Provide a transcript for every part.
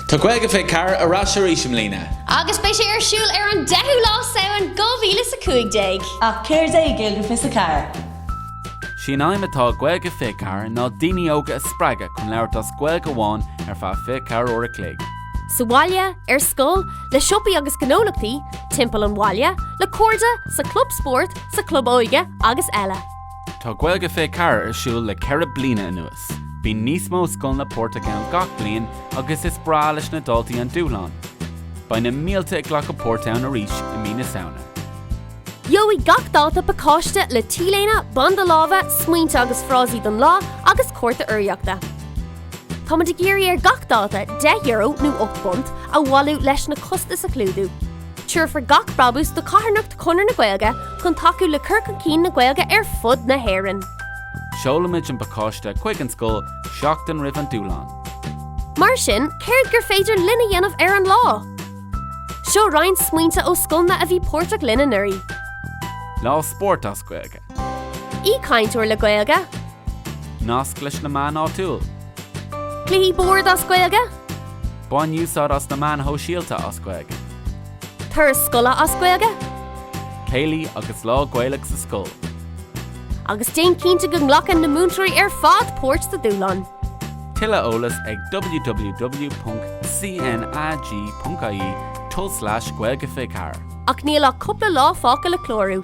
Tá Gaeilge 24 ar ais arís i mbliana! agus beidh sé ar siúl ar an 10ú lá Samhain 2015. Ach céard é Gaeilge 24? S'í an aidhm atá ag Gaeilge 24 ná daoine óga a spreagadh chun labhairt as Gaeilge amháin ar feadh 24 uair a chloig. Sa bhaile, ar scoil, le siopaí agus gnólachtaí, timpeall an bhaile, le cairde, sa chlub spóirt, sa chlub óige agus eile. Tá Gaeilge 24 ar siúl le ceithre bliana anuas. Bíonn níos mó scoileanna páirteach ann gach bliain agus is breá leis na daltaí an dúshlán. Beidh na mílte ag glacadh páirt ann arís i mí na Samhna. Gheobhaidh gach dalta pacáiste le t-léine, banda láimhe, smaointe agus frásaí don lá agus cárta urraíochta. Táimid ag iarraidh ar gach dalta deich euro, nó ocht bpunt, a bhailiú leis na costais a chlúdú. Tabharfar gach brabús do charthanacht Chonradh na Gaeilge chun tacú le cur chun cinn na Gaeilge ar fud na hÉireann. Seolfaimid an pacáiste chuig an scoil seachtain roimh an Dúshlán. Mar sin, céard gur féidir linn a dhéanamh ar an lá? Seo roinnt smaointe ó scoileanna a bhí páirteach linn anuraidh. Lá spóirt as Gaeilge. Aoichainteoir le Gaeilge. Nasc leis na meáin áitiúil. Cluichí boird as Gaeilge. Bain úsáid as na meáin shóisialta as Gaeilge. Turas scoile as Gaeilge. Céilí agus Lá Gaeilge sa scoil. Agus déan cinnte go nglacann na múinteoirí ar fad páirt sa dúshlán. Tuilleadh eolas ag www.cnag.ie/gaeilge24. Ach níl ach cúpla lá fágtha le clárú.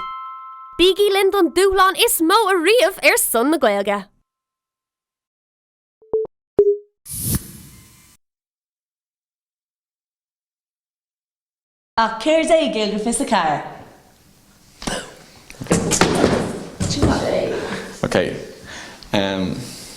Bígí linn don dúshlán is mó ariamh ar son na Gaeilge! Ach céard é Gaeilge 24? Boom! Chomh maith léi. Okay.